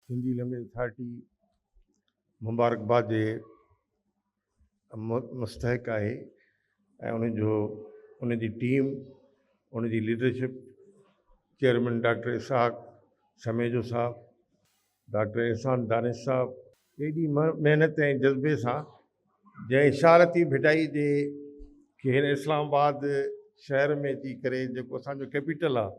Sindhi language authority مبارڪباد جي مستحق آهي ۽ ان جو ان جي ٽيم ان جي leadership chairman doctor Ishaq Sumejo صاحب، ڊاڪٽر احسان دانش صاحب، ايڏي محنت ۽ جذبي سان جنهن اشارتي ڀٽائي جي کي هن اسلام آباد شهر ۾ اچي ڪري جيڪو اسان جو ڪيپيٽل آهي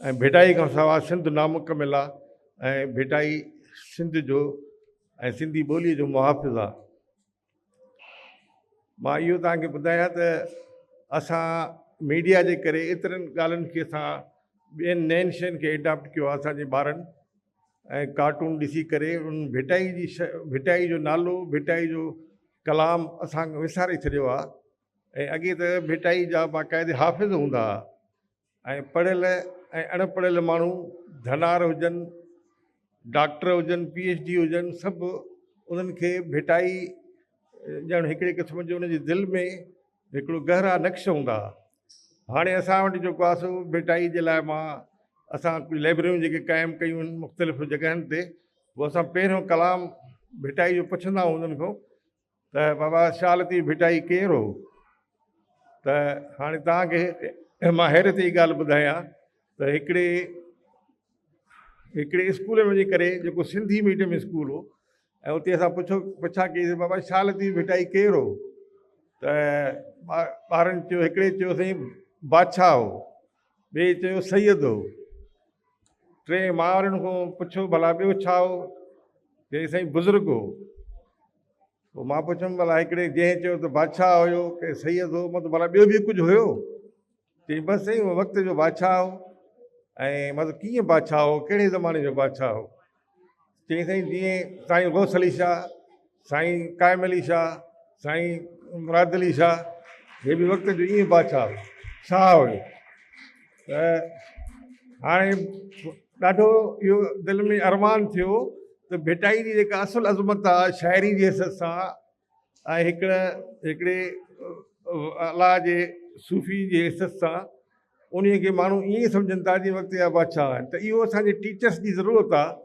۽ ڀٽائي کان سوا سنڌ نامڪمل آ ۽ ڀٽائي سنڌ جو ۽ سنڌي ٻوليء جو محافظ آ. مان اهو توهان کي ٻڌايان ته اسان ميڊيا جي ڪري ايترين ڳالهين کي اسان ٻين نين شين کي ايڊاپٽ ڪيو آ اسان جي ٻارن ۽ ڪارٽون ڏسي ڪري ان ڀٽائي جي ڀٽائي جو نالو ڀٽائي جو ڪلام اسان وساري ڇڏيو آ ۽ اڳي ته ڀٽائي جا باقاعدي حافظ هوندا ها ۽ پڙهيل ۽ اڻ پڙهيل ماڻهو ڌنار هجن، ڊاڪٽر هجن، پي ايڇ ڊي هجن سڀ انهن کي ڀٽائي ڄڻ هڪڙي قسم جو انهن جي دل ۾ هڪڙو گهرا نقش هوندا ها. هاڻي اسان وٽ جيڪو آهي سو ڀٽائي جي لاء مان اسان ڪجهه لئبرريون جيڪي قائم ڪيون آهن مختلف جڳهن تي، پوء اسان پهريون ڪلام ڀٽائي جو پڇندا آهيون انهن کان ته بابا شالتي ڀٽائي ڪير هو؟ ته هاڻي توهان کي مان حيرت جي ڳالهه ٻڌايان ته هڪڙي هڪڙي اسڪول ۾ وڃي ڪري جيڪو سنڌي ميڊيم اسڪول هو ۽ اتي اسان پڇو پڇا ڪيسي بابا شالتي ڀٽائي ڪير هو؟ ته ٻارن چيو هڪڙي چيو سائين بادشاهه هو ٻئي چيو سيد هو. ٽئين ماورن کان پڇيو ڀلا ٻيو ڇا هو؟ چيائين سائين بزرگ هو. پوء مان پڇيم ڀلا هڪڙي جنهن چيو ته بادشاهه هيو ڪي سيد هو مطلب ڀلا ٻيو به ڪجهه هيو؟ چيائين بس سائين وقت جو بادشاهه هو. ۽ مطلب ڪيئن بادشاهه هو ڪهڙي زماني جو بادشاهه هو؟ چيائين سائين جيئن سائين غوث علي شاهه سائين قائم علي شاهه سائين مراد علي شاهه هي به وقت جو ائين بادشاهه شاهه هيو ته هاڻي ڏاڍو اهو دل ۾ ارمان ٿيو ته ڀٽائي جي جيڪا اصل عظمت آهي شاعري جي حيثيت سان ۽ هڪڙ هڪڙي الاء جي صوفي جي حيثيت سان انهيء کي ماڻهو ائين سمجهن ٿا جيئن وقت جا بادشاهه آهن ته اهو اسان جي ٽيچرس جي ضرورت آهي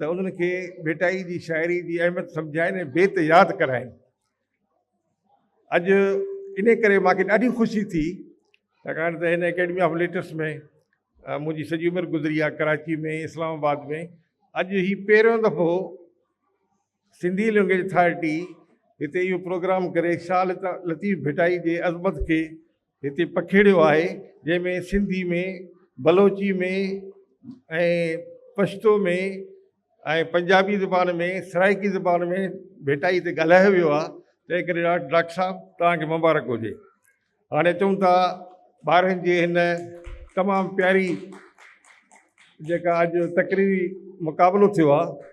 ته انهن کي ڀٽائي جي شاعري جي اهميت سمجهائين ۽ بيت ياد ڪرائين. اڄ انهيء ڪري مان کي ڏاڍي خوشي ٿي ڇاڪاڻ ته هن اڪيڊمي آف ليٽرس ۾ منهنجي سڄي عمر گذري آهي ڪراچي ۾ اسلام آباد ۾ اڄ هي پهريون دفعو سنڌي لئنگئيج اٿارٽي هتي اهو پروگرام ڪري شاهه لطيف ڀٽائي جي عظمت کي هتي پکيڙيو آهي جنهن ۾ سنڌي ۾ بلوچي ۾ ۽ پشتو ۾ ۽ پنجابي زبان ۾ سرائيڪي زبان ۾ ڀٽائي تي ڳالهايو ويو آهي تنهن ڪري ڊاڪٽر صاحب تهانکي مبارڪ هجي هاڻي چون ٿا ٻارن جي هن تمام پياري جيڪا اڄ تقريري مقابلو ٿيو آهي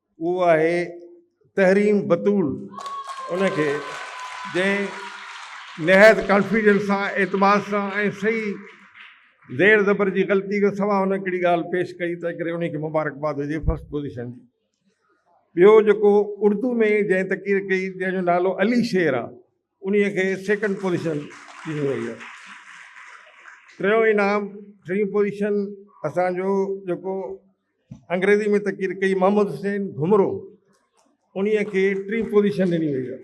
اهو آهي تحريم بتول ان کي جنهن نهايت ڪانفيڊنس سان اعتماد سان ۽ صحيح زير زبر جي غلطي کان سوا ان ڪهڙي ڳالهه پيش ڪئي تنهن ڪري ان کي مبارڪباد هجي فرسٽ پوزيشن جي ٻيو جيڪو اردو ۾ جنهن تقرير ڪئي جنهن جو نالو علي شير آهي انهيء کي سيڪنڊ پوزيشن ڏني وئي آهي. ٽيون انعام، ٽين پوزيشن اسان جو جيڪو انگريزي ۾ تقرير ڪئي محمد حسين گهمرو انهيء کي ٽين پوزيشن ڏني وئي آهي.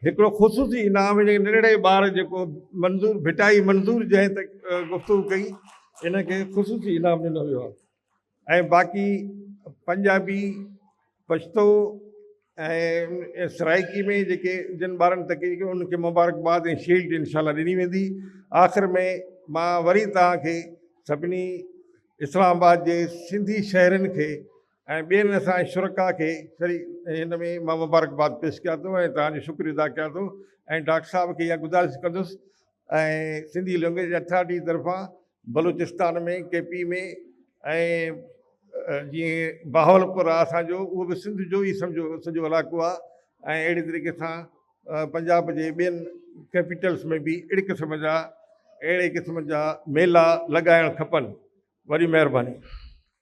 هڪڙو خصوصي انعام هن ننڍڙي ٻار جيڪو منظور ڀٽائي منظور جنهن تي گفتگو ڪئي ان کي خصوصي انعام ڏنو ويو آهي. ۽ باقي پنجابي پشتو ۽ سرائيڪي ۾ جيڪي جن ٻارن تقرير ڪئي انهن کي مبارڪباد ۽ شيلڊ انشاء الله ڏني ويندي آخر ۾ مان وري توهان کي سڀني اسلام آباد جي سنڌي شهرين کي ۽ ٻين اسان شرڪا کي سري هن ۾ مان مبارڪباد پيش ڪيان ٿو ۽ توهان جو شڪر ادا ڪيان ٿو ۽ ڊاڪٽر صاحب کي اها گذارش ڪندس ۽ سنڌي لئنگئيج اٿارٽي طرفان بلوچستان ۾ ڪي پي ۾ ۽ جي بهاولپور آ اسان جو اهو به سنڌ جو ئي سمجهو سڄو علاقو آ ۽ اهڙي طريقي سان پنجاب جي ٻين ڪيپيٽلس ۾ به اهڙي قسم جا اهڙي قسم جا ميلا لڳائڻ کپن وڏي مهرباني.